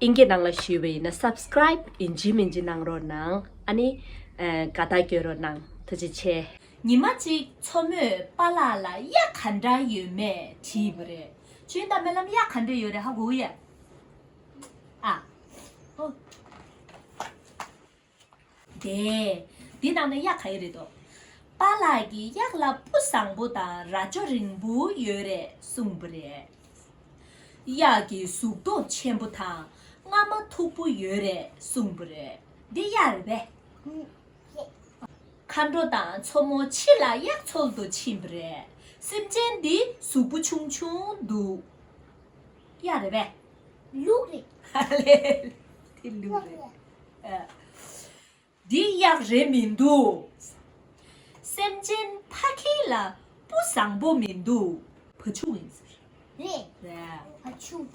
ཨིན་གྱི་ནང་ལ་ཞུས་པ་ཡིན་ན Subscribe ཡིན་ཇི་མིན་ཇི་གནང་རོགས་གནང་ཨ་ནི་དགའ་རྟགས་བསྐྱོན་རོགས་གནང་ཐུགས་རྗེ་ཆེ། ཉི་མ་གཅིག་མཚོ་མོས་པ་ལགས་ལ་གཡག་ག་འདྲ་ཡོད་མེད་དྲིས་པ་རེད། ཁྱོད་ད་མལ་ལམ་གཡག་ག་འདྲ་ཡོད་རེད་ཧ་གོ་ཡ། ཨ། ཨོ། དེས། འདི་ནང་ན་གཡག་ག་ཡོད་རེད་དོ། པཱ་ལགས་ཀྱིས་གཡག་ལ་སྤུ་བཟང་པོ་དང་རྭ་ཅོ་རིང་པོ་ཡོད་རེད་གསུངས་པ་རེད། གཡག་གི་གཟུགས་མདོག་ཆེན་པོ་དང་རྔ་མ་མཐུག་པོ་ཡོད་རེད་གསུངས་པ་རེད། འདི་གཡག་རེད་པས། མཁའ་འགྲོ་དང་མཚོ་མོ་ཕྱི་ལ་གཡག་འཚོལ་དུ་ཕྱིན་པ་རེད། སེམས་ཅན་འདི་གཟུགས་པོ་ཆུང་ཆུང་འདུག་གཡག་རེད་པས། ལུག་རེད། དེ་ལུག་རེད། འདི་གཡག་རེད་མི་འདུག། སེམས་ཅན་ཕ་ཁྱི་ལ་སྤུ་བཟང་པོ་མི་འདུག་བ་ཕྱུགས་ཡིན་ཟེར། རེད། བ་ཕྱུགས།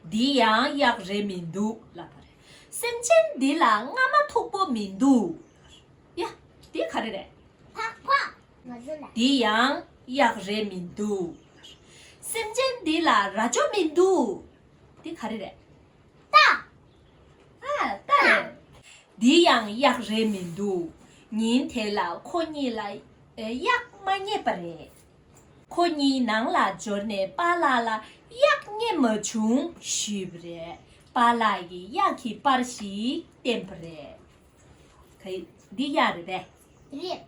འདི་ཡང་གཡག་རེད་མི་འདུག་ལབ་པ་རེད། སེམས་ཅན་འདི་ལ་རྔ་མ་མཐུག་པོ་མི་འདུག། ཡ། འདི་ག་རེ་རེད། ཕག་ཕག། འདི་ཡང་གཡག་རེད་མི་འདུག། སེམས་ཅན་འདི་ལ་རྭ་ཅོ་མི་འདུག། འདི་ག་རེ་རེད། རྟ། ཨ། རྟ་རེད། འདི་ཡང་གཡག་རེད་མི་འདུག། ཉིན་དེ་ལ་ཁོ་གཉིས་ལ་གཡག་མ་རྙེད་པ་རེད། ཁོ་གཉིས་ནང་ལ་འབྱོར་ནས་པ་ལགས་ལ་གཡག་རྙེད་མ་བྱུང་ཞུས་པ་རེད། པ་ལགས་ཀྱིས་གཡག་གི་པར་ཞིག་བསྟན་པ་རེད། འདི་གཡག་རེད་པས། རེད།